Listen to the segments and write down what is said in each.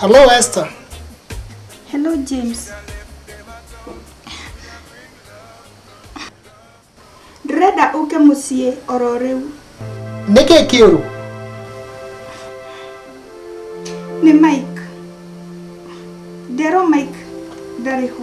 Hello, Esther. Hello, James. Ndĩrenda ũke mũciĩ oro rĩu. Nĩ kĩĩ kĩũru? Nĩ Mike. Nderwo Mike ndarĩ ho.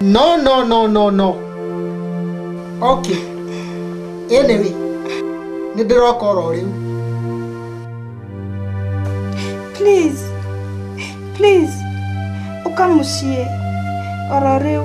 no no no no no okay anyway nĩ ndĩroka oro rĩu please please ũka mũciĩ oro rĩu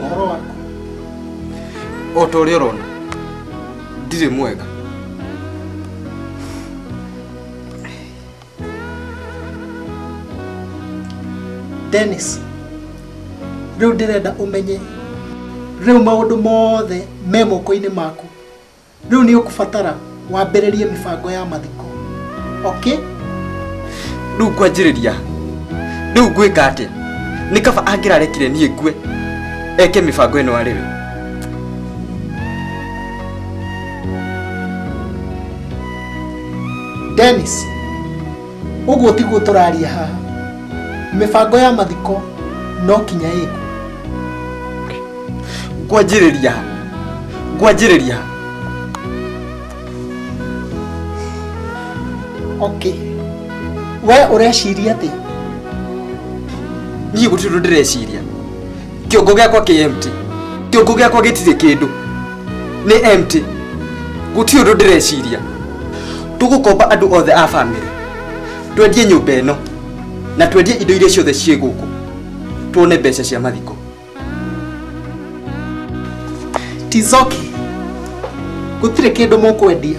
ũhoro waku o ta ũrĩa ũrona ndirĩ mwega Dennis rĩu ndĩrenda ũmenye rĩu maũndũ mothe me moko-inĩ maku rĩu nĩ ũkũbatara wambĩrĩrie mĩbango ya mathiko okay rĩu ngwanjĩrĩria rĩu ngwĩka atĩa nĩ kaba angĩrarekire niĩ ngue eke mĩbango ĩno arĩ we dennis Ũguo tiguo tũraria haha. Mĩbango ya mathiko no kinya ĩku. Ngwanjĩrĩria ha? Ngwanjĩrĩria ha? Okay. We ũreciria atĩ niĩ gũtirĩ ũndũ ndĩreciria kĩongo gĩakwa kĩ empty kĩongo gĩakwa gĩtirĩ kĩndũ nĩ empty gũtirĩ ũndũ ndĩreciria tũgũkomba andũ othe a bamĩrĩ twendie nyũmba ĩno na twendie indo iria ciothe ciĩ gũkũ tuone mbeca cia mathiko tizoke gũtirĩ kĩndũ mũkwendia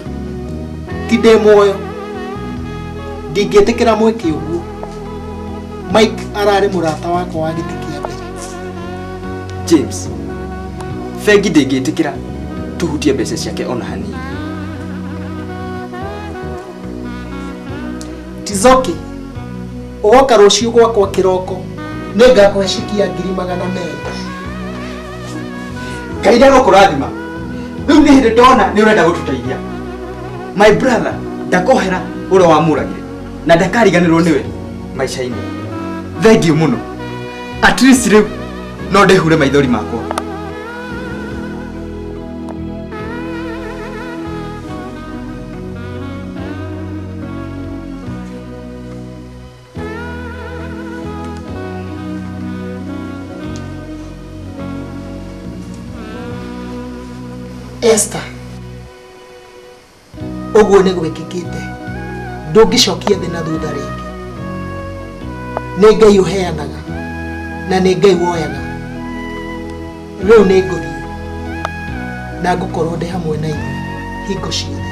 ti ndĩ muoyo ndingĩtĩkĩra mwĩke ũguo mike ararĩ mũrata wakwa wa gĩtĩ kĩa mbere james bengi ndĩngĩtĩkĩra tũhutie mbeca ciake ona hanini tizoki ũgoka rũciũ gwakwa kĩroko nĩ ngakũhe ciki ya ngiri magana merĩ ngai ndagũkũrathima rĩu nĩ hĩndĩ ndona nĩ ũrenda gũtũteithia my brother ndakohera ũrĩa wamũragire na ndakariganĩrwo nĩwe maica-inĩ thengiũ mũno at least rĩu no ndĩhure maithori makwa Esther ũguo nĩ gwĩkĩkĩte ndũngĩcokia thĩ na thutha rĩngĩ nĩ ngai ũheanaga na nĩ ngai woyaga rĩu nĩ ngũthiĩ na ngũkorwo ndĩ hamwe na inyuĩ hingo ciothe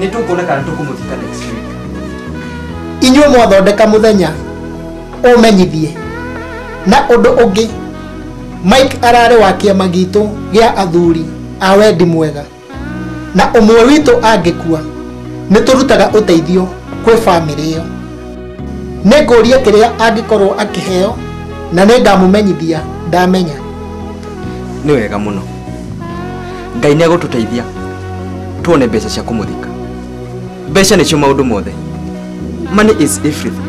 nä tå kuona kana tå kå må thika next week inyuĩ mwathondeka mũthenya ũmenyithie na ũndũ ũngĩ mike ararĩ wa kĩama gitũ gĩa athuri a wendi mwega na ũmwe witũ angĩkua nĩ tũrutaga ũteithio kwĩ bamĩrĩ ĩyo nĩ ngũria kĩrĩa angĩkorwo akĩheo na nĩ ngamũmenyithia ndamenya nĩ wega mũno ngai nĩ agũtũteithia tuone mbeca cia kũmũthika mbeca nĩcio maũndũ mothe money is everything